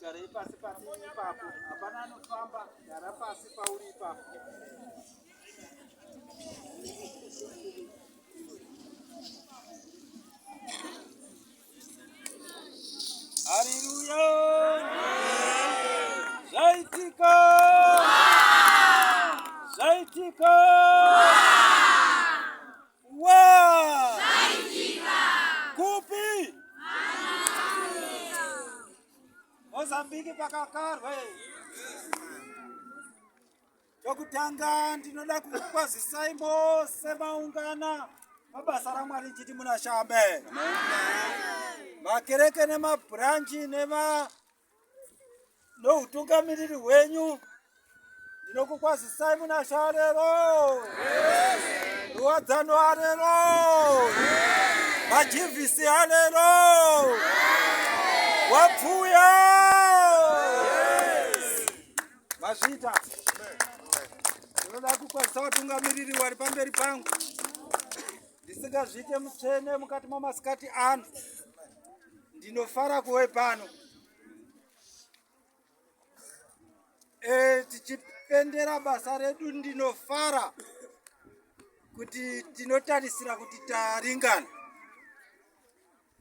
Garei pasi pasi ipapo, hapana anofamba, gara pasi pauri ipapo. Mozambique pakakarwa chokutanga ndinoda kukwazisai mose maungana mabasa ramwari chiti munashambe makereke nemabhuranji nema noutungamiriri hwenyu ndinokukwazisai muna sharero ruwadzano arero majivhisi arero wapfuya mazvita ndinoda kukwazisa vatungamiriri wari pamberi pangu ndisingazviite mutsvene mukati mamasikati ano ndinofara kuve pano e, tichipendera basa redu ndinofara kuti tinotarisira kuti taringana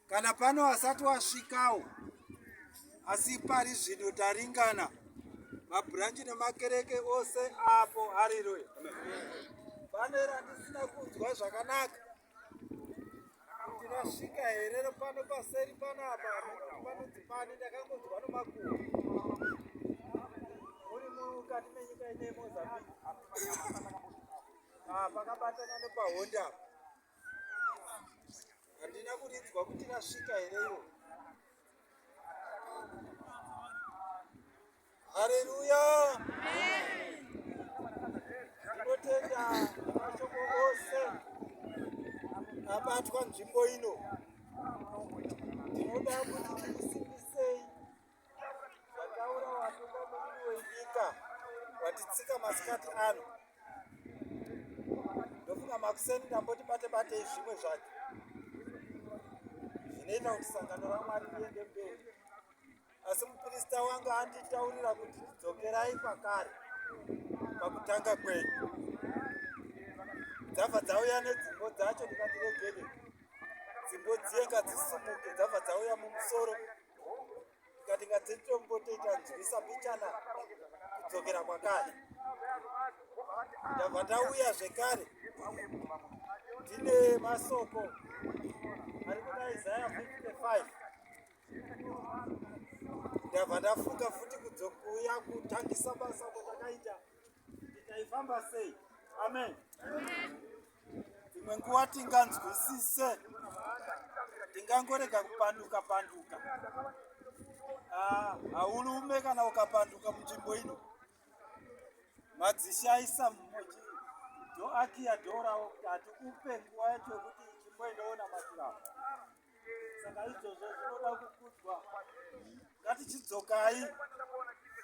Kana pano asati wasvikawo asi pari zvino taringana mabhuranji nemakereke ose apo hariroya pane randisina kunzwa zvakanaka ndinasvika here pano paseri panapa panonzi pani ndakangonzwa nomakuwa uri mukati menyika ine mozambique ah, pakabatana nepahonda apa Handina kuridzwa kuti rasvika here iro. Haleluya. Tinotenda mashoko ose abatwa nzvimbo ino. Tinoda kuti Vataura watungamiri wenyika watitsika masikati ano ndofunga makuseni ndamboti bate batei zvimwe zvacho zvinoita kuti sangano ramwari riende mberi asi muprista wangu anditaurira kuti dzokerai kwakare pakutanga kwenyu dzabva dzauya nedzimbo dzacho ndikati regede dzimbo dziye ngadzisumuke dzabva dzauya mumusoro tikati ngadzitombotoita nzwisa mbichana kudzokera kwakare ndabva ndauya zvekare tine masoko ari kuna isaya 55 ndabva ndafunga futi kudzokuuya kutangisa basa kwatakaita Taifamba sei? Amen. Dzimwe nguva tinganzwisise, tingangorega kupanduka panduka. Ah, haulume kana ukapanduka munzvimbo ino madzishaisa mmoji ndoakiya dhorawo kuti hatikupe nguva yacho yekuti chimboendawo namatirawo saka izvozvo zvinoda kukudzwa ngatichidzokai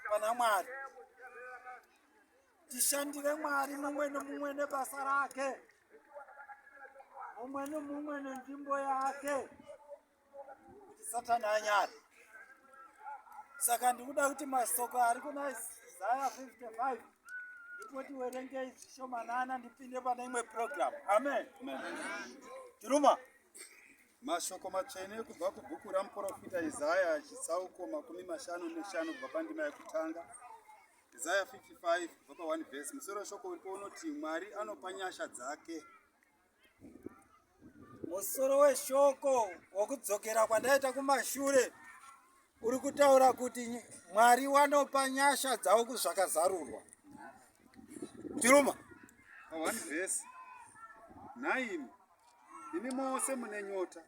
pana mwari tishandire mwari mumwe nemumwe nebasa rake mumwe nemumwe nenzvimbo yake kuti satani anyari saka ndikuda kuti masoko ari kuna isaya 55 ndipoti werengei zvishomanana ndipinde pane imwe program amen tiruma Mashoko matsvene kubva kubhuku ramuprofita Isaya chitsauko makumi mashanu neshanu kubva pandima yekutanga Isaya 55 kubva pa 1 vhesi musoro shoko uripo unoti Mwari anopa nyasha dzake. Musoro weshoko wokudzokera kwandaita kumashure uri kutaura kuti Mwari wanopa nyasha dzavo kuzvakazarurwa. Tiruma. Pa 1 vhesi 9 Imi mose mune nyota,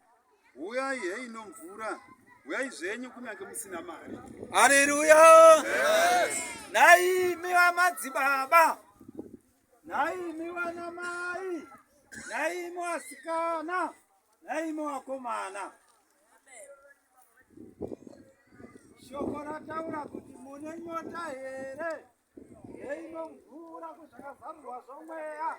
huyai heino mvura, huyai zvenyu kunyange musina mari. Haleluya! Nhai imi vamadzibaba, nhai imi vanamai, nhai imi vasikana, nhai imi vakomana. Shoko rataura kuti mune nyota here? Yeinomvura kuzvakazarurwa zvomweya.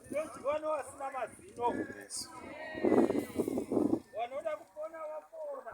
Ndozvivano asina mazino. Vanoda kupona vapona.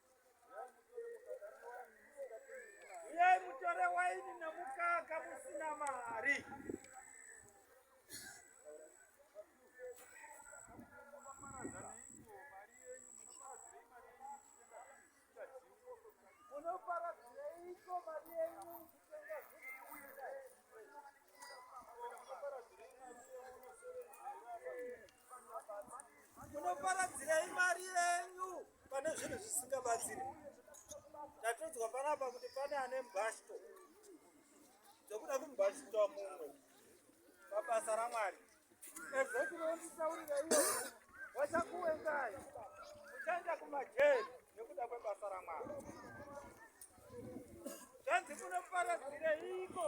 Uyai mutore waini nemukaka musina mari. Thank you. Munoparadzirei mari yenyu pane zvinhu zvisingabatsiri? Ndatodzwa panapa kuti pane ane mbashto dzokuda kumbashitwa mumwe pabasa raMwari. Ezekinotisaurireiwo vachakuwengai muchaenda kumajeri nekuda kwebasa raMwari. Zvanzi munoparadzirei iko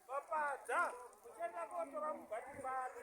vapadza muchaenda kotora mubati bani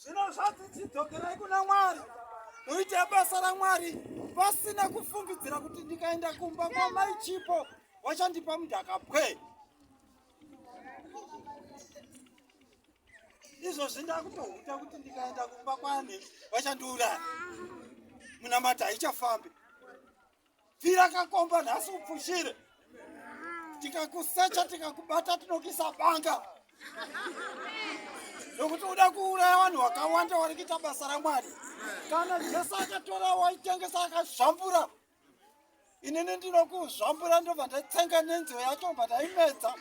Zvino zvanzi chidzokerai kuna Mwari, muite basa raMwari pasina kufungidzira kuti ndikaenda kumba kwamai Chipo wachandipa mudhaka pwe. Izvozvi ndakutohuta kuti ndikaenda kumba kwani wachandiuraya. Munamata haichafambi. Pfira kakomba nhasi upfushire. Tikakusecha tikakubata tinokisa banga. Nokuti uda kuuraya vanhu vakawanda vari kuita basa raMwari. Kana Jesu akatora waitengesa akazvambura. Inini ndinokuzvambura ndobva ndatsenga nenziyo yacho ndobva ndaimedza.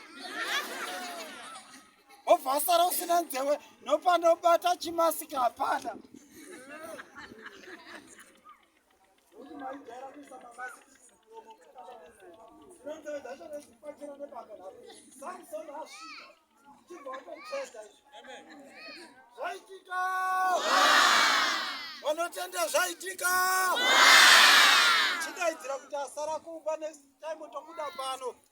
Wobva asara usina nzewe nopanobata chimasika hapana. Zvaitika! Vanotenda zvaitika! Chidaidzira kuti asara kumba next time tobuda pano.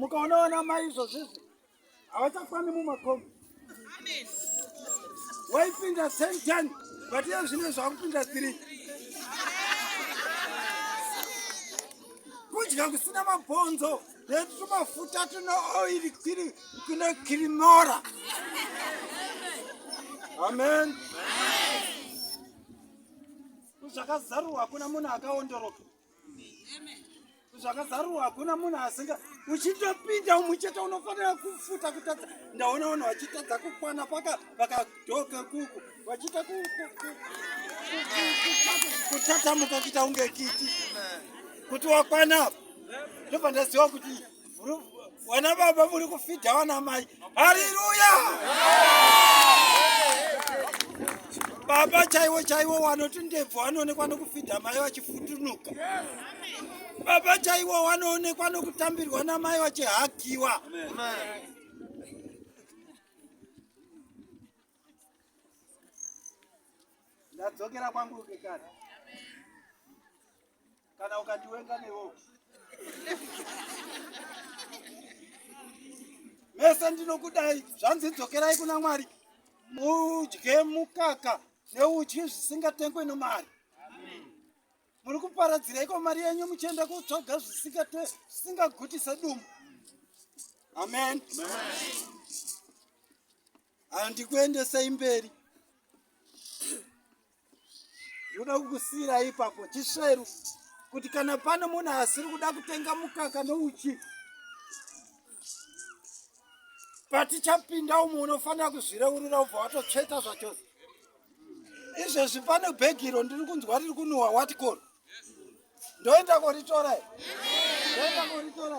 Mukaona vana mai izvozvizvi havachakwani mumakomo waipinda sentani but iye zvine zvakupinda tiri kudya kusina mabhonzo netumafuta tune oiri kiri kune kirimora amen zvakazarurwa hakuna munhu akaondoroka zvakazarurwa hakuna munhu asinga uchitopinda umuchete unofanira kufuta kutadza ndaona vanhu vachitadza kukwana paka vakadoka kuku vachiita kutatamuka kuita kunge kiti kuti wakwana apa ndobva ndaziva kuti Wana baba muri kufidha wana mai. Haleluya! Baba chaiwo chaiwo wanoti ndebvu anoonekwa nokufidha mai vachifutunuka. Baba chaiwo wanoonekwa nokutambirwa namai vachihakiwa. Ndadzokera kwangu kekare. kana ukandiwenga newo mese ndinokudai zvanzi dzokerai kuna mwari mudye mukaka neudyi zvisingatengwe nomari muri kuparadziraiko mari yenyu muchienda kutsvaga zvisingaguti sedumbu amen handikuendesei mberi ndoda kukusiira ipapo chisveru kuti kana pane munhu asiri kuda kutenga mukaka nouchi patichapinda umwe unofanira kuzvireurira ubva watotsveta zvachose izvezvi pane bhegi iro ndiri kunzwa riri kunuhwa watikoro ndoenda koritora ndoenda koritora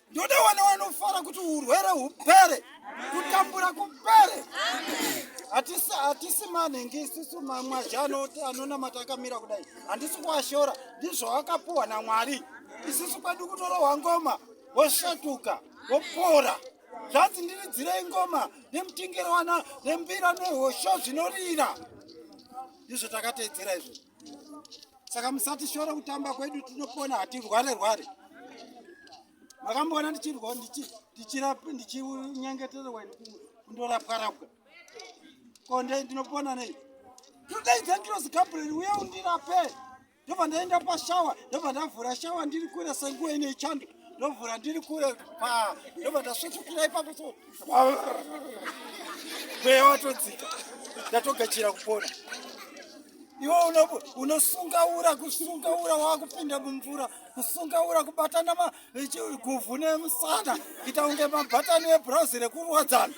Ndoda wana wanofara kuti urwere hupere, kutambura kupere. Hatisi hatisi manhingi isusu mamwazhi anonamata akamira kudai, handisi kuashora, ndizvo wakapuwa naMwari. Isusu kwedu kutorohwa ngoma woshatuka wopora zvanzi ndiridzirei ngoma nemutingirowana nembira nehosho zvinorira ndizvo takateedzera izvozvo saka musatishore kutamba kwedu tinopona hatirware rware makamboona ndichirwa ndichinyengetererwa kundorapwa rapwa ko ndinopona nei today dangerous gabriel uye undirape ndobva ndaenda pashawa ndobva ndavhura shawa ndiri kure senguva ine chando ndovhura ndiri kure pa ndobva ndasvetsvukira ipapo so mweya watodzika ndatogachira kupona iwe unosunga ura kusunga ura wakupinda mumvura kusunga ura kubatana guvhu nemusana kuita kunge mabatani ebhurauzi rekurwadzana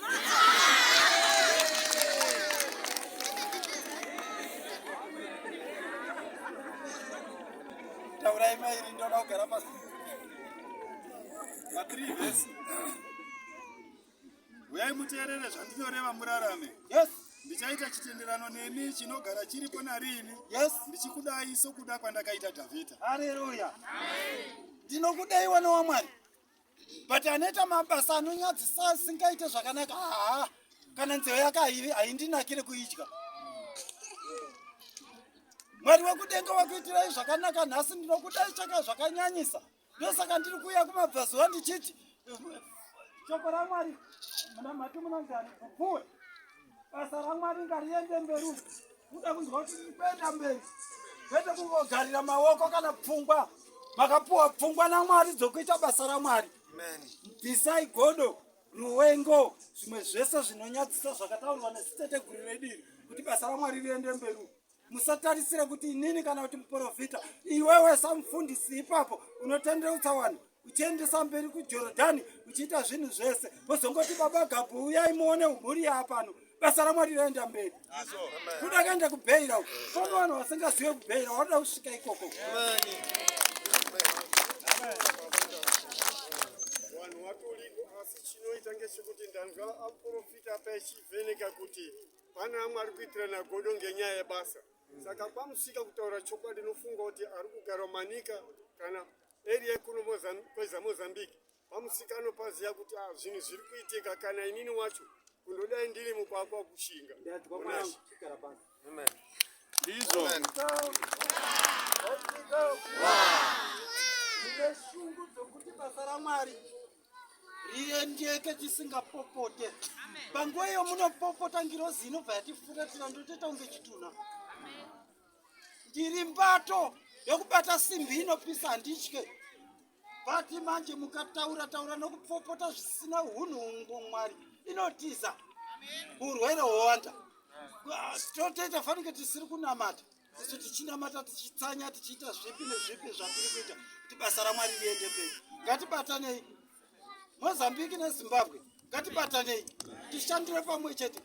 taurai mairi ndoda kugara pasi uyai muteerere zvandinoreva murarame yes ndichaita chitenderano nemi chinogara chiripo nariini yes ndichikudai sokuda kwandakaita dhavhidha hareruya ndinokudai wana wamwari but anoita mabasa anonyadzisa asingaite zvakanaka haa ah. kana nzeve yake haindinakire kuidya mwari wekudenga wakuitirai zvakanaka nhasi ndinokudai chaka zvakanyanyisa ndosaka ndiri kuuya kumabvazuva ndichiti shoko ramwari munamhati munanzani kupuwe basa ramwari ngariende mberi kuda kunzwa kuti ndikuenda mberi kwete kungogarira maoko kana pfungwa makapuwa pfungwa namwari dzokuita basa ramwari bvisai godo Ruwengo, zvimwe zvese zvinonyadzisa zvakataurwa neziteteguru redu iri kuti basa raMwari riende mberi. Musatarisire kuti inini kana kuti muprofita, iwewe samufundisi ipapo unotendeutsa vanhu uchiendesa mberi kuJorodhani uchiita zvinhu zvese, wozongoti baba Gabhu uyai muone mhuri yaapano basa ramwari raenda mberi kuda akaenda kubheira famba vanhu vasingazive kubheira wanoda kusvika ikoko vanhu watoriko asi chinoita ngechekuti ndanga aprofita pechivheneka kuti pane amwe ari kuitirana godo ngenyaya yebasa saka pamusika kutaura chokwadi nofunga kuti ari kugara manika kana area yekuno kwezamozambique Pamusikano paziya kuti ah, zvinhu zviri kuitika kana inini wacho kundodai ndiri mukwakwa kushinga. Amen. Ndizvo. Amen. Ndine shungu dzokuti basa raMwari riendeke chisingapopote. Panguva iyo munopopota ngirozi inobva yatifuratira ndotoita kunge chitunha. Ndiri mbato yokubata simbi inopisa handitye. but manje mukataura taura nokupfopota zvisina hunhu hungu mwari inotiza urwere hwowanda totoita fanike tisiri kunamata isu tichinamata tichitsanya tichiita zvipi nezvipi zvatiri kuita kuti basa ramwari riende mberi ngatibatanei mozambiki nezimbabwe ngatibatanei tishandire pamwe chete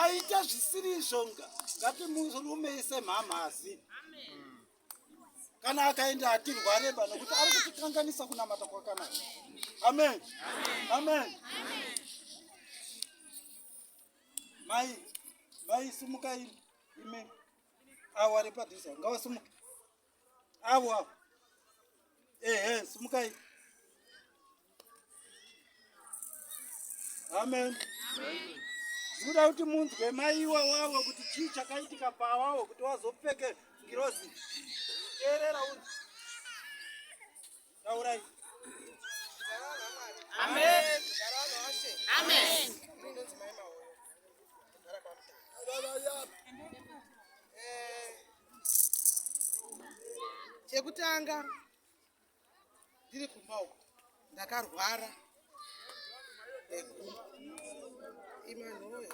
aita zvisiri izvo ngatimurumeise mhamhazi kana akaenda hatirwareba nokuti ari kutikanganisa kunamata kwakanaka amen amen mai mai sumuka imi avo ari padhuza ngavasumuka avo avo ehe sumukai amen muda kuti munzwe maiwa wavo kuti chii chakaitika pawavo kuti wazopfeke ngirozi teerera u taurai chekutanga ndiri kumba uko ndakarwara imanhoyo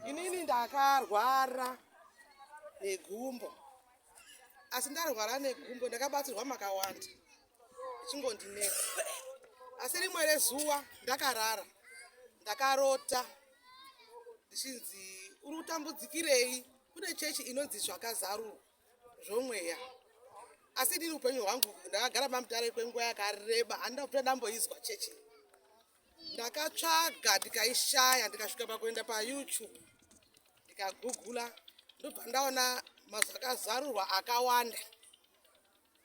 inini ndakarwara negumbo asi ndarwara negumbo ndakabatsirwa makawanda chingondinetsa asi rimwe rezuva ndakarara ndakarota ndichinzi uri kutambudzikirei kune chechi inonzi zvakazarurwa zvomweya asi ndiri upenyu hwangu ndakagara pamutare kwenguva yakareba handina kuta ndamboizwa chechi ndakatsvaga ndikaishaya ndikasvika pakuenda payoutube ndikagugula ndobva ndaona mazakazarurwa akawanda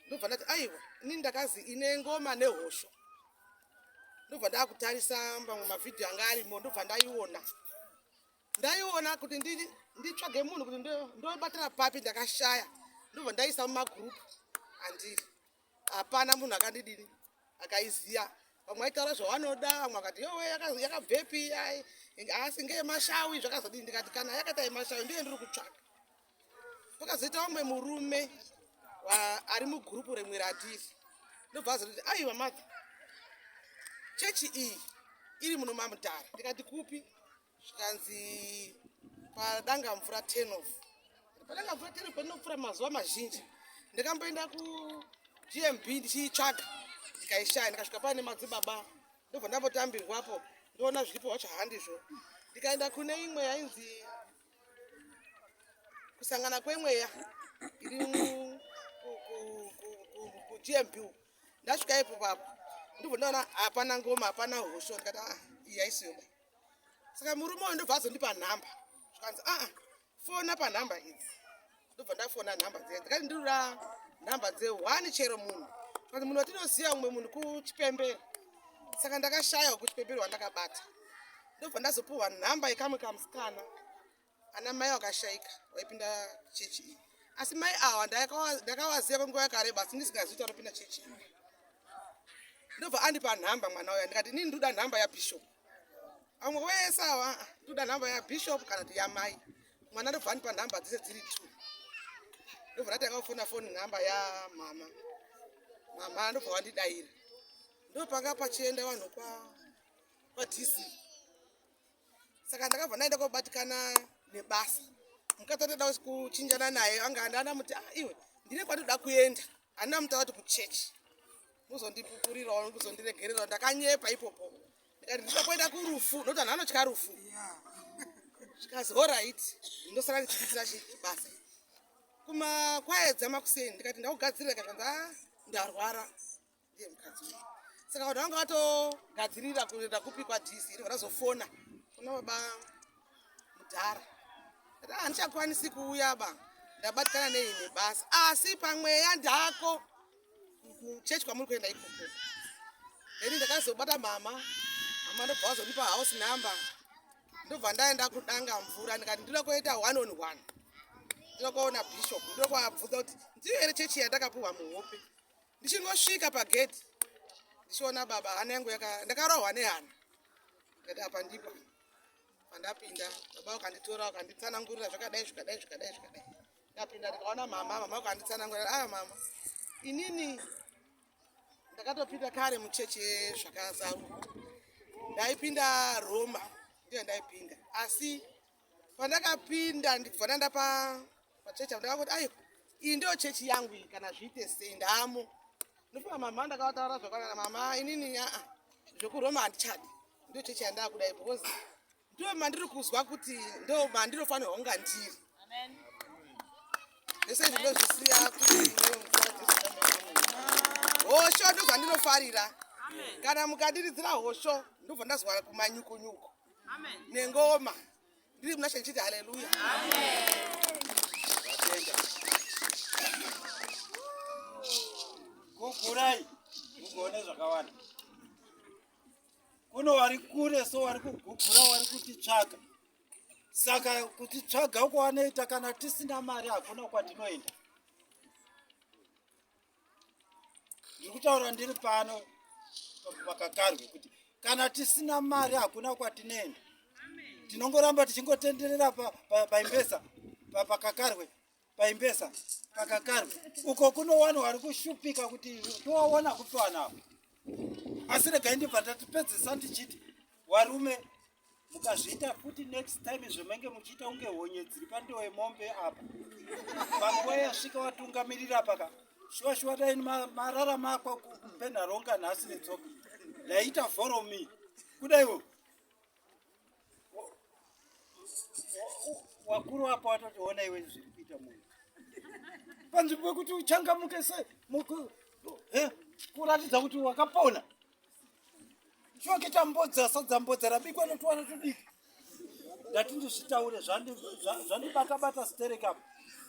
ndobva ndati aiwa ini ndakazi ine ngoma nehosho ndobva ndakutarisa mamwe mavhidhiyo anga arimo ndobva ndaiona ndaiona kuti nditsvage munhu kuti ndobatira papi ndakashaya ndobva ndaisa mumagurupu andiri hapana munhu akandidini akaiziva vamwe aitaura zvavanoda vamwe akati yowe yakabvepi asi ngeyemashawi zvakazodii ndikati kana yakaita yemashawi ndiye ndiri kutsvaga pakazoita umwe murume ari mugurupu remwe ratiri ndobva azoti aiwa maka chechi iyi iri muno mamutare ndikati kupi zvikanzi padanga mvura ten of padanga mvura ten of pandinopfura mazuva mazhinji ndikamboenda kugmb ndichiitsvaga ndikaishaya ndikasvika paa nemadzibaba ndobva ndambotambirwapo ndoona zviripo wacho handizvo ndikaenda kune imwe yainzi kusangana kwemweya kugmp ndasvika ipo papo ndibvo ndaona hapana ngoma hapana hosho ndikati a ah, yaisiyoba saka murume uyo ndobva azondipa nhamba zvikanzi aa ah, fona panhamba idzi ndobva ndafona nhamba dzenyu ndikati ndirura nhamba dze one chero munhu kati munhu watinoziva umwe munhu kuchipembere saka ndakashaya kuchipembere wandakabata ndobva ndazopuhwa nhamba yekamwe kamusikana ana mai wakashaika waipinda chechi iyi asi mai awa ndakavaziva kwenguva yakareba asi ndisingazivi kuti anopinda chechi iyi ndobva andipa nhamba mwana uya ndikati inini ndoda nhamba yabishopu amwe wese awa toda nhamba yabishop kana kuti yamai mwana ndobvani panhamba dzese dziri two ndobva ndatanga kufona foni nhamba yamama mama ndobva wandidaira ndopanga pachienda vanhu kwa kwadc saka ndakabva ndaenda kobatikana nebasa mukadzi andoda kuchinjana naye anga andana muti ah, iwe ndine kwandoda kuenda handina muta kuti kuchechi muzondipupurirawo muzondiregererawo ndakanyepa ipopo ndikati ndida kuenda kurufu nokuti anhu anotya rufu zvikazi horit ndosara ndichiitira chibasa kuma kwaedza makuseni ndikati ndakugadzirira ka zvanza ah, ndarwara ndiye mukadzi uyu saka vanhu vanga vatogadzirira kuenda kupi kwadc iri vanazofona kuna baba mudhara ra handichakwanisi kuuya ba ndabatikana nei nebasa asi pamweya ndako kuchechi kwamuri kuenda ikoko heni ndakazobata mama mama ndobva wazonipa house number ndobva ndaenda kudanga mvura ndikati ndinoda kuenda one on one ndinoda kuona bishop ndinoda kuabvunza kuti ndiyo here chechi yandakapuhwa muhope ndichingosvika pagedhi ndichiona baba hana yangu ndakarohwa nehana ndikati apa ndipo pandapinda baba vakanditora vakanditsanangurira zvakadai zvikadai zvikadai zvikadai ndapinda ndikaona mama mama vakanditsanangurira aya ah, mama inini ndakatopinda kare muchechi yezvakazaruka ndaipinda roma ndiyo ndaipinda asi pandakapinda ndikubva ndanda pachechi apo ndakakuti ayo iyi ndiyo chechi yangu iyi kana zviite sei ndaamo ndofunga mama ndakavataura zvakwana mama inini aa ah, ah, zvekuroma handichadi Ndio church yandakuda ipo because ndio mandiri kuzwa kuti ndio mandinofanira kunga ndiri. Amen. Ndese ndinozvisiya kuti hosho ndo zvandinofarira kana mukandiridzira hosho ndobva ndazwara kumanyukunyuku nengoma ndiri muna shechiti haleluya kukurai mukuone zvakawanda kuno wari kure so wari kugugura wari kutitsvaga saka kutitsvaga uko wanoita kana tisina mari hakuna kwatinoenda ndiri kutaura ndiri pano pakakarwe kuti kana tisina mari hakuna kwatinoenda tinongoramba tichingotenderera paimbesa pakakarwe paimbesa pakakarwa uko kuno wani wari kushupika kuti towaona kupiwanavo asi regai ndibva ndatipedzisa ndichiti warume mukazviita futi next time zvemenge muchiita kunge honye dziri pandiwo yemombe apa panguva yasvika watungamirira paka shuwa shuwa dai marara makwa kupenharonga nhasi netsoka ndaiita foromi kudaiwo wakuru wako watotiona iwe zviri kuita munhu panzvimbo yekuti uchangamuke se kuratidza kuti wakapona choke tambodza sadzambodza rabikwa notuwana tudiki ndati ndizvitaure zvandibatabata sterekapo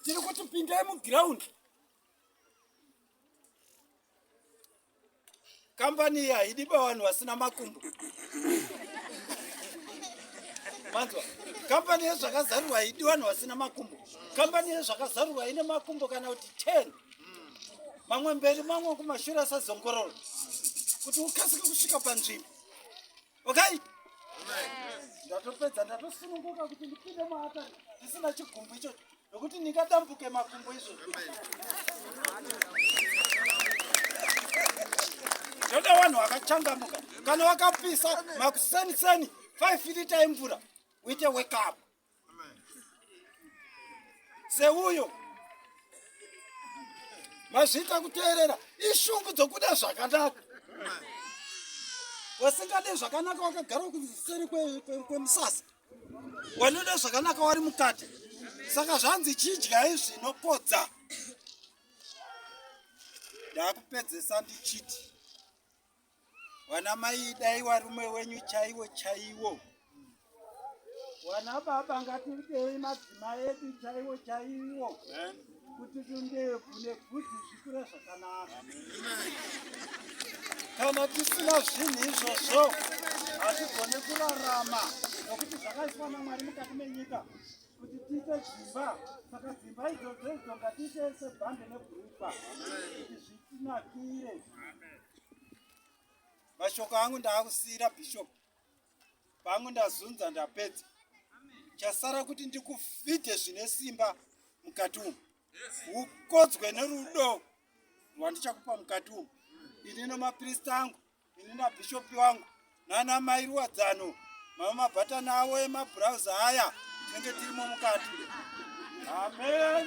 tiri kuti pindai mugiraundi kambani iyi haidi pavanhu vasina makumbo manzwa kambani yezvakazarurwa haidi vanhu vasina makumbo kambani yezvakazarurwa ine makumbo kana kuti ten mamwe mberi mamwe kumashure asazongorora kuti ukasike kusvika panzvimbo okay ndatopedza ndatosununguka kuti ndipinde maata ndisina chigumbu ichocho nokuti ndingadambuke makumbo izvo ndoda vanhu vakachangamuka kana vakapisa makuseniseni 5 lita emvura uite wekeup seuyo mazvita kuteerera ishungu dzokuda zvakanaka wasingade zvakanaka wakagara kuseri kwemusasa wanoda zvakanaka wari mukati saka zvanzi chidyai zvinopodza ndakupedzesa ndichiti Wana mai idai warume wenyu chaiwo chaiwo. Wana baba ngatidei madzimai edu chaiwo chaiwo. Amen. Kuti tundebvu nebvudzi zvikure zvakanaka. Kana tisina zvinhu izvozvo hatigone kurarama nokuti zvakaiswa naMwari mukati menyika kuti tiite dzimba saka dzimba idzodzo idzo ngatiite sebhande nebhurukwa kuti zvitinakire mashoko angu ndaakusiyira bishop pangu ndazunza ndapedza chasara kuti ndikufidhe zvine simba mukati umu ukodzwe nerudo rwandichakupa mukati umu ini nemaprista angu ini nabhishopi wangu nana mai ruwadzano mama mabhatani avo emabhurauzi aya tinenge tirimo mukati amen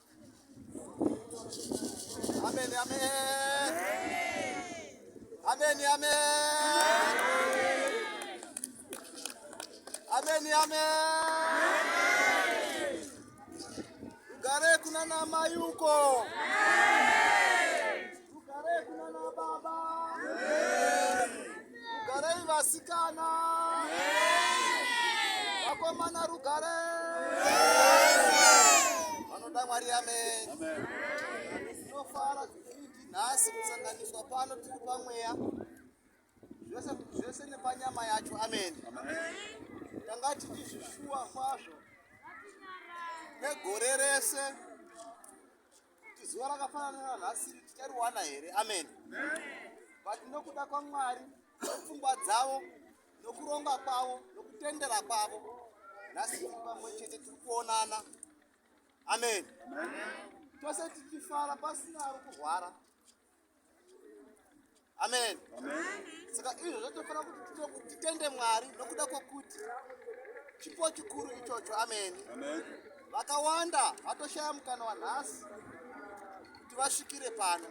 Amen, amen. Amen, amen. Amen, amen. Gare kuna na mayuko. Amen. Ugarei kuna na baba. Ugarei vasikana. Vakomana rugare. Vanoda Mwari amen. Amen. Tinofara nhasi kusanganiswa pano tiri pamweya zvese zvese nepanyama yacho amen. Tanga tichizvishuwa kwazvo negore rese kuti zuva rakafanana nanhasiri tichariwana here amen but nokuda kwamwari nepfungwa dzavo nokuronga kwavo nokutendera kwavo nhasi tiri pamwe chete tiri kuonana amen tose tichifara pasina ari kurwara amen saka izvo zvatofanira kuti titende mwari nokuda kwokuti chipo chikuru ichocho ameni vakawanda vatoshaya mukana wanhasi kuti vasvikire pano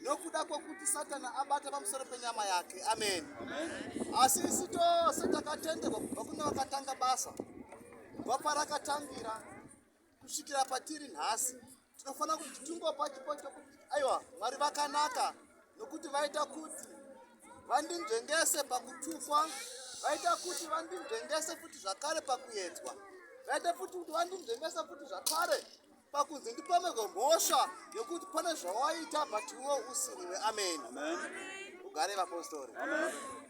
nokuda kwokuti satani abata pamusoro penyama yake ameni asi isi tose takatenderwa kubva kune vakatanga basa kubva parakatangira kusvikira patiri nhasi tinofanira kuti tingopa chipo chokuti aiwa mwari vakanaka nokuti vaita kuti vandinzvengese pakutukwa vaita kuti vandinzvengese futi zvakare pakuedzwa vaita futi kuti vandinzvengese futi zvakare pakunzi ndipomerwe mhosva yokuti pane zvawaita but iwo usiriwe ameni ugare vapostori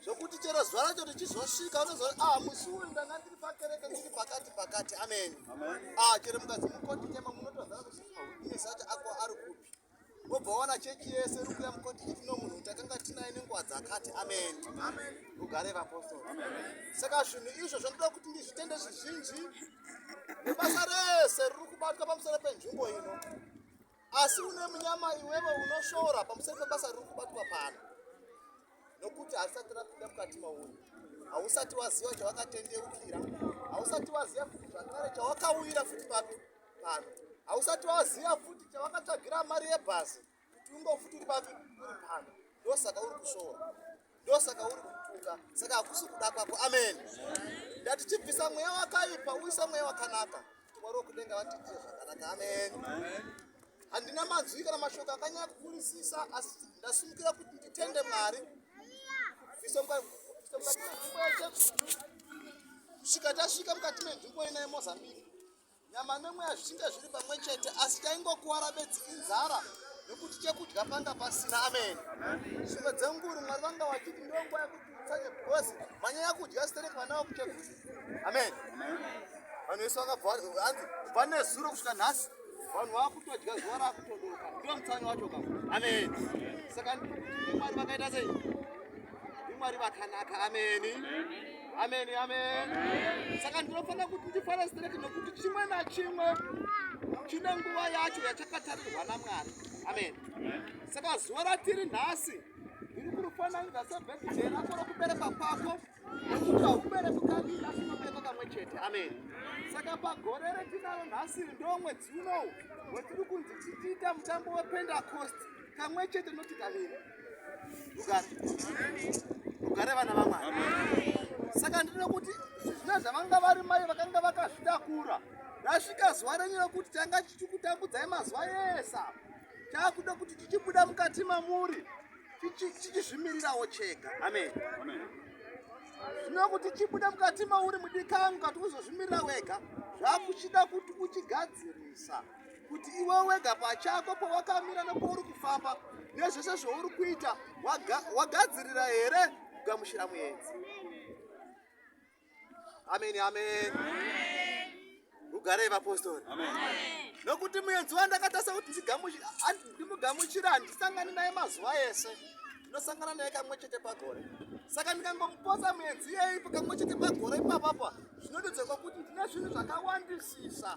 zvokuti chero zuva racho richizosvika unozoti ah musi uyu ndanga pakereke ndiri pakati pakati amen ah chero mukadzi mukoti tema munotoziva kuti ine zati ako ari kupi wobva waona chechi yese iri kuya mukoti iti no munhu takanga tinaye nenguva dzakati amen rugare vapostori saka zvinhu izvo zvinoda kuti ndizvitende zvizhinji nebasa rese riri kubatwa pamusoro penzvimbo ino asi une munyama iwewe unoshora pamusoro pebasa riri kubatwa pano nokuti harisati rapinda mukati mauri hausati waziva chawakatendeukira hausati waziva futi zvakare chawakauyira futi papi pano hausati waziva futi chawakatsvagira mari yebhasi kuti ungofuti uri papi uri pano ndosaka uri kushora ndosaka uri kutuka saka hakusi kuda kwako amen ndati chibvisa mweya wakaipa uisa mweya wakanaka mwari wokudenga vatiitire zvakanaka amen handina manzwi kana mashoko akanyaya kukurisisa asi ndasimukira kuti nditende mwari kubvisa mukati menzvimbo yajesu kusvika tasvika mukati menzvimbo ina yemozambique nyama nemweya zvichinge zviri pamwe chete asi taingokuwara bedzi inzara nekuti chekudya panga pasina amene zvimwe dzenguru mwari vanga vachiti ndonguva yekuti utsanye because manyaya kudya stereki vana vakuchekuzi amen vanhu vese vakabva hanzi kubva nezuro kusvika nhasi vanhu vakutodya zuva rakutodoka ndo mutsanyo wacho ka amen saka ndikuti ndimwari vakaita sei ndimwari vakanaka ameni amen amen saka ndinofanira kuti ndifare straight nekuti chimwe nachimwe chine nguva yacho yachakatarirwa namwari amen saka zuva ratiri nhasi ndiri kurufananidza sebhekidhe rako rokubereka kwako nokuti haubereki kaviri asi unobereka kamwe chete amen saka pagore retinaro nhasi ndo mwedzi unowu wetiri kunzi tichiita mutambo wependakosti kamwe chete noti kaviri rugare vana vamwari saka ndino kuti zvizvina zvavanga vari mai vakanga vakazvitakura rasvika zuva renyu rekuti tanga tichikutambudzai mazuva ese taakuda kuti tichibuda mukati mamuri tichizvimirirawo chega amen zvino kuti chibuda mukati mauri mudikangu kati uzozvimirira wega zvakuchida kuti uchigadzirisa kuti iwe wega pachako pawakamira nepouri kufamba nezvese zvouri kuita wagadzirira here kugamushira muenzi ameni ameni ugarei vapostori nokuti muenzi wandakatasa kuti ndimugamuchira handisangani naye mazuva ese ndinosangana naye kamwe chete pagore saka ndikangomupotsa muenzi iyeipo kamwe chete pagore ipapapa zvinondidzekwa kuti ndine zvinhu zvakawandisisa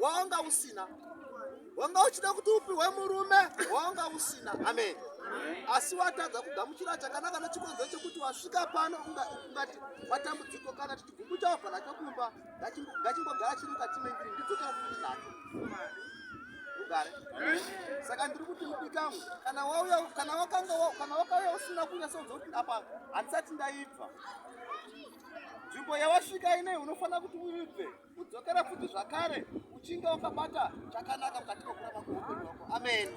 wawanga usina wanga uchida kuti upiwe murume wawanga usina amen asi watadza kugamuchira chakanaka nechikonzero chekuti wasvika pano ungati matambudziko kana tichigumbu chabva nacho kumba ngachimbogara chiri mukati mendiri ndidzotafuti nacho ugare saka ndiri kuti mudikamwe kana wauya kana wakanga kana wakauya usina kunyasa udza kuti apa handisati ndaibva nzvimbo yawasvika inei unofanira kuti uibve kudzokera futi zvakare uchinge wakabata chakanaka mukati mekurama kweupenyu wako amen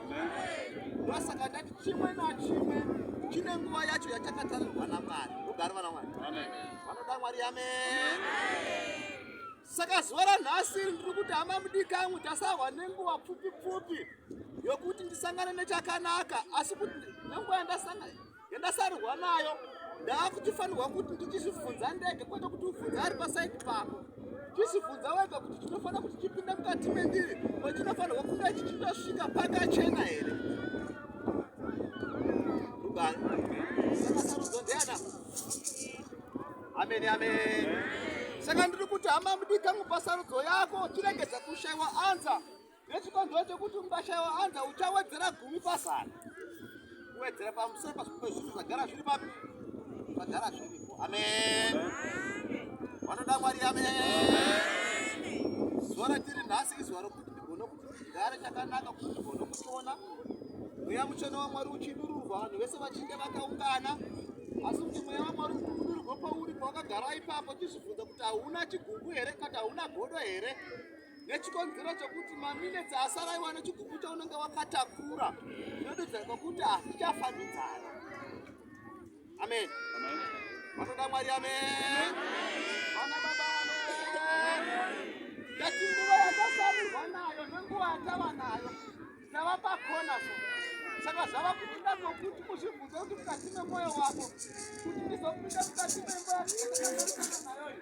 ndosaka ndati chimwe nachimwe chine nguva yacho yachakatarirwa namwari ugari vana mwari vanoda mwari amen saka zuva ranhasi ndiri kuti hama mudikangu tasahwa nenguva pfupi pfupi yokuti ndisangane nechakanaka asi kuti nenguva yandasangana yandasarurwa nayo ndaakuchifanirwa kuti ndichizvibvunza ndege kwete kuti ubvunza ari pasaidi pako chizvibvunza wega kuti chinofanira kuti chipinde mukati mendiri ko chinofanirwa kunge chichitosvika pakachena here ameni ameni saka ndiri kuti hama mudikangu pasarudzo yako chirege dzakushaiwa anza nechikonzero chekuti mubashayo anza uchawedzera gumi pasana kuwedzera pamusoro pazvimwe zvinhu zvagara zviri papi zvagara zviripo amen vanoda mwari amen zuva ratiri nhasi izuva rokuti ndigone kuti ndigare chakanaka kuti ndigone kutiona mweya mutsvene wamwari uchidururwa vanhu vese vachinge vakaungana asi kuti mweya wamwari uchidururwa pauri pawakagara ipapo chizvibvunza kuti hauna chigugu here kati hauna godo here nechikonzero chekuti maminetsi asaraiwa nechigumbu chaunenge wakatakura zvinotidza kwekuti hazvichafambidzana amen vanoda mwari amen vana baba ngati nguva yatasarirwa nayo nenguva yatava nayo tava pakona so saka zvava kuinda nokuti kuzvibvunza kuti mukati memwoyo wako kuti ndizopinda mukati memba nayoyo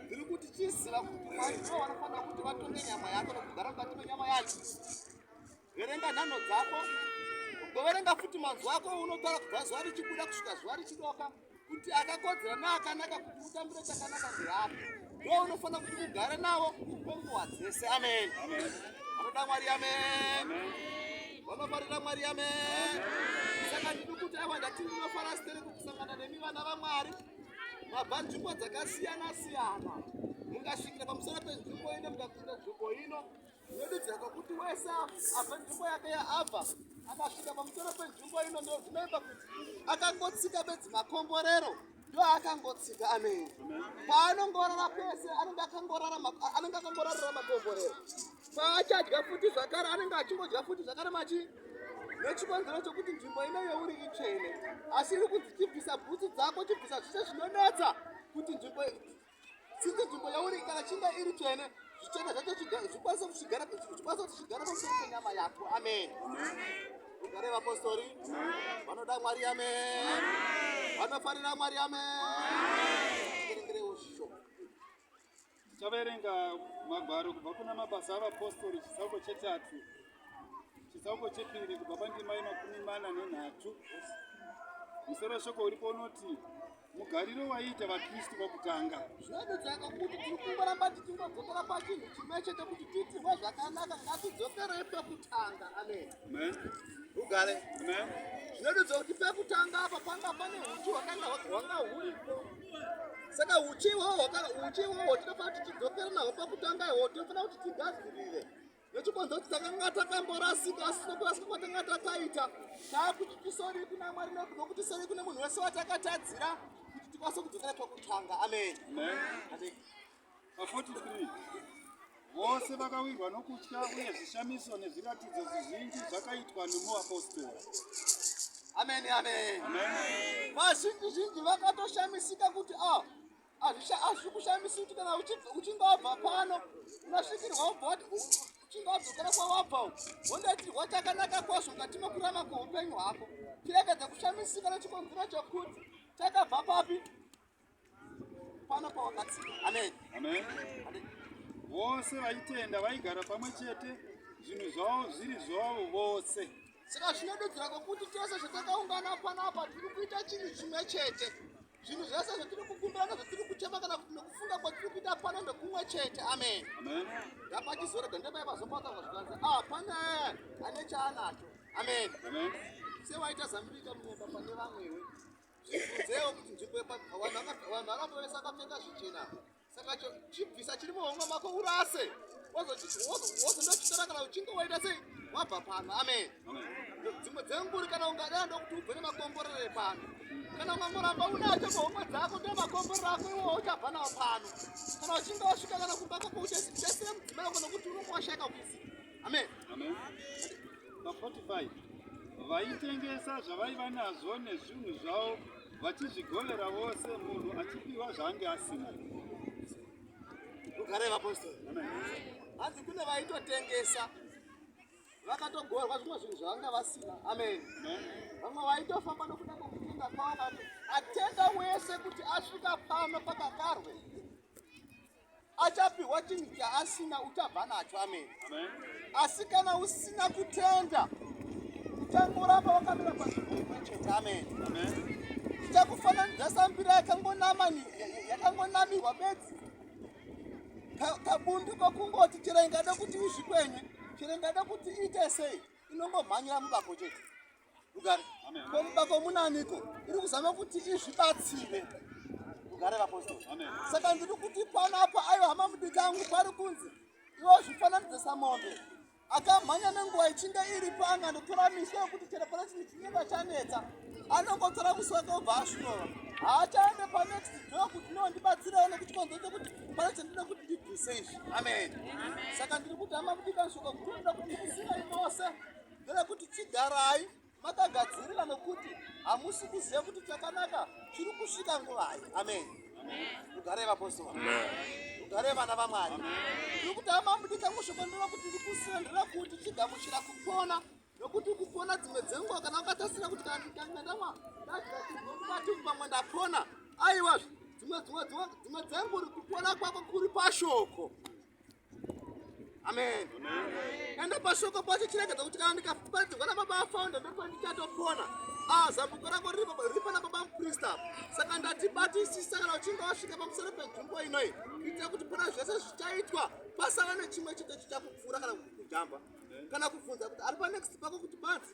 tiri kuti chiziva kuti mwari ivo vanofanira kuti vatonge nyama yako nokugara mukati menyama yacho verenga nhano dzako ugoverenga futi manzwi ako unotaura kubva zuva richibuda kusvika zuva richidoka kuti akakodzera neakanaka kuti utambire chakanaka ndirako ndo unofanira kuti ugare navo kwenguva dzese amen vanoda mwari amen vanofarira mwari amen saka ndiri kuti ava ndati ndinofarasiteri kukusangana nemi vana vamwari mabva nzvimbo dzakasiyana siyana mungasvikira pamusoro penzvimbo ino mukakunda nzvimbo ino zvinodudzira kwakuti wese abva nzvimbo yake yaabva akasvika pamusoro penzvimbo ino ndo zvinoita kuti akangotsika bedzi makomborero ndo akangotsika amene paanongorara pese anenge akangorara anenge akangorarira makomborero paachadya futi zvakare anenge achingodya futi zvakare machi nechikonzero chokuti nzvimbo ino yeuri itsvene asi iri kunzi chibvisa bhutsu dzako chibvisa zvise zvinonetsa kuti nzvimbo sinzi nzvimbo yauri kana chinga iri tsvene zvichena zvacho zvikwanise kuchigara zvikwanise kuti chigare pamusoro penyama yako amen ugare vapostori vanoda mwari amen vanofarira mwari amen Tichaverenga magwaro kubva kuna Mabasa aVapostori chitsauko chetatu chitsauko chepiri kubva pandima yemakumi mana nenhatu. Musoro weshoko uripo unoti mugariro waiita vaKristu vokutanga. Zvinodudzaka kuti tiri kungoramba tichingodzokera pachinhu chimwe chete kuti tiitirwe zvakanaka ngatidzokerei pekutanga. Amen. Amen. Ugare. Amen. Zvinodudza kuti pekutanga apa panga pane huchi hwakanga hwanga huripo. saka uchi iwowo uchi iwowo tinofanira kuti tidzokere naho pakutanga iwowo tinofanira kuti tigadzirire nechikonzo kuti takanga takamborasika asi nokurasika kwatanga takaita taakuti tisori kuna mwari nekuda kuti sori kune munhu wese watakatadzira kuti tikwanise kudzokera pakutanga amen, amen. amen. Pa43 vose vakawirwa nokutya uye zvishamiso nezviratidzo zvizhinji zvakaitwa nemuapostora ameni ameni vazhinji zhinji vakatoshamisika kuti a ah, hazvi kushamisi kuti kana uchingabva pano unasvikirwa ubva wati uchingadzokera kwawabva wondaitirwa chakanaka kwazvo mukati mekurama kweupenyu hwako tirekedza kushamisika nechikonzero chokuti chakabva papi Pana pawakati. Amen. Amen. Vose vaitenda vaigara pamwe chete zvinhu zvavo zviri zvavo vose. Saka zvinodudzira kwokuti tese zvatakaungana panapa tiri kuita chinhu chimwe chete. Zvinhu zvese zvatiri kukumbirana zvatiri kuchema kana kuti nokufunga kwatiri kuita pano ndokumwe chete. Amen. Amen. Ndapachizore dandemai vazopata vazvikanzi ah pane ane chaanacho. Amen. Amen. Sewaita zambirika munyemba pane vamwewe. Zvibvudzeo kuti nzvimbo yepa- vanhu vaka- vanhu vakatonesa akapfeka zvichena apa. saka cho- chibvisa chiri muhomwe mako urase Wozochi- wozo- wozondochitora kana uchinge waita sei wabva pano amen dzimwe dzenguri kana ungada ndokuti ubve nemakomborere pano kana ukangoramba unacho muhomwe dzako ndomakomborere ako iwowo uchabva nawo pano kana uchinge wasvika kana kumba kwako uchasiyira mudzimai wako nokuti unokwashaka kuziva Amen. Amen. Pa 45 vaitengesa zvavaiva nazvo nezvinhu zvavo vachizvigolera vose munhu achipiwa zvaange asina ugare vapostori hanzi kune vaitotengesa vakatogorwa zvimwe zvinhu zvavanga vasina amen vamwe vaitofamba nokuda kwokutenda kwavo atenda wese kuti asvika pano pakakarwe achapihwa chinhu chaasina uchabva nacho amene asi kana usina kutenda uchangoramba wakamira pazvimwechete amene ichakufananidza sambira yakangonamirwa bedzi kabundu kokungoti chero ingada kuti izvikwenye chero ingada kuti iite sei inongomhanyira mubako chete Rugare. Ko mubako munaniko? Iri kuzama kuti izvibatsire. Rugare vapostori. Amen. Saka ndiri kuti pano apa ayo hama mudiki angu pari kunzi iwo zvifananidzo samombe. Akamhanya nenguva ichinge iri panga ndotora miswe yekuti chero pane chinhu chinenge chanetsa anongotora muswe wake obva asvinova. Haachaende panext door kuti no ndibatsirewo nekuti konzo chekuti pane chandinoda kuti ndibvise izvi. Amen. Saka ndiri kuti hama mudiki anshoko guru ndokuti musina imose. ndeyekuti chigarai makagadzirira nokuti hamusi kuziva kuti chakanaka chiri kusvika nguvai amen ugarei vapostora ugarei vana vamwari tiri kuti amambudika mushoko ndova kuti ndikusendera kuti chigamuchira kupona nokuti kupona dzimwe dzenguva kana ukatasira kuti kana ndikangandama ndaaati pamwe ndapona aiwa dzimwe dzimwe dzimwe dzengu uri kupona kwako kuri pashoko amen enda pashoko pacho chiregedza kuti kana ndikaparadzirwa nababa afaunda ndokuva ndichatopona ah, zambuko rako riri pana baba muprista saka ndatibatisisa kana uchinge wasvika pamusoro penzvimbo inoi kuitira kuti pana zvese zvichaitwa pasava nechimwe chete chichakupfuura kana kukujamba kana kubvunza kuti ari panext pako kuti banzi